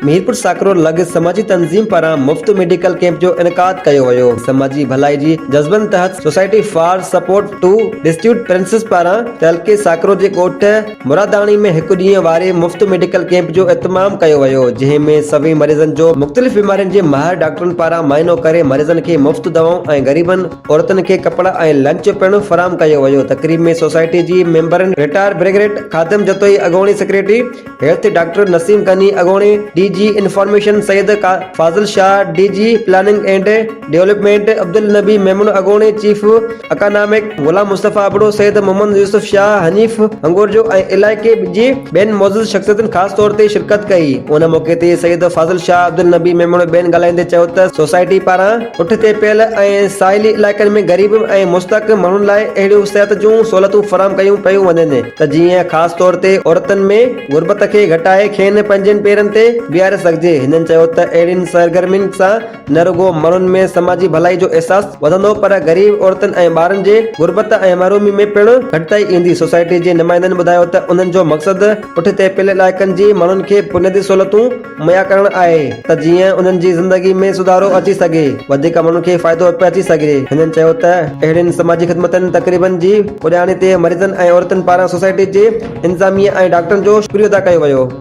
ميرپور ساڪرو لڳ سماجي تنظيم پاران مفت ميڊيڪل ڪيمپ جو انعقاد ڪيو ويو سماجي ڀلائي جي جذبن تحت society for support to destitute princes پاران تعلقي ساڪرو جي ڳوٺ مراداڻي ۾ هڪ ڏينهن واري مفت ميڊيڪل ڪيمپ جو اهتمام ڪيو ويو جنهن ۾ سوين مريضن جو مختلف بيمارين جي ماهر ڊاڪٽرن پاران معائنو ڪري مريضن کي مفت دوائون ۽ غريبن عورتن کي ڪپڙا ۽ لنچ پڻ فراهم ڪيو ويو تقريب ۾ سوسائٽي جي ميمبرن رٽائر برگيڊ خادم جتوئي اڳوڻي secretary health doctor Naseem Ghani اڳوڻي D G information Syed Fazil Shah D G planning and development Abdul Nabi Memon اڳوڻي چيف اڪانامڪ غلام مصطفي ابڙو سيد محمد يوسف شاهه حنيف هنگورجو ۽ علائقي جي ٻين معزز شخصيتن خاص طور تي شرڪت ڪئي ان موقعي تي سيد فاضل شاهه عبدالنبي ميمڻ ٻين ڳالهائيندي چيو ته سوسائٽي پاران پٺتي پيل ۽ ساحلي علائقن ۾ غريب ۽ مستحق ماڻهن لاء اهڙيون صحت جون سهولتون فراهم ڪيون پيون وڃن ته جيئن خاص طور تي عورتن ۾ غربت کي گهٽائي کين پنهنجن پيرن تي بيهاري سگهجي. هنن چيو ته اهڙين سرگرمين سان نه رڳو ماڻهن ۾ سماجي ڀلائي جو احساس وڌندو پر غريب عورتن ۽ ٻارن جي غربت ۽ محرومي ۾ پڻ گهٽتائي ايندي. سوسائٽي جي نمائندن ٻڌايو ته انهن جو مقصد پٺتي پيل علائقن جي ماڻهن کي بنيادي سهولتون مھيا ڪرڻ آھي ته جيئن انھن جي زندگي ۾ سڌارو اچي سگھي وڌيڪ ماڻھن کي فائدو پھچي سگھي ھنن چيو ته اھڙين سماجي خدمتن تقريبن جي پڄاڻي تي مريضن ۽ عورتن پاران سوسائٽي جي انتظاميه ۽ ڊاڪٽرن جو شڪريو ادا ڪيو ويو.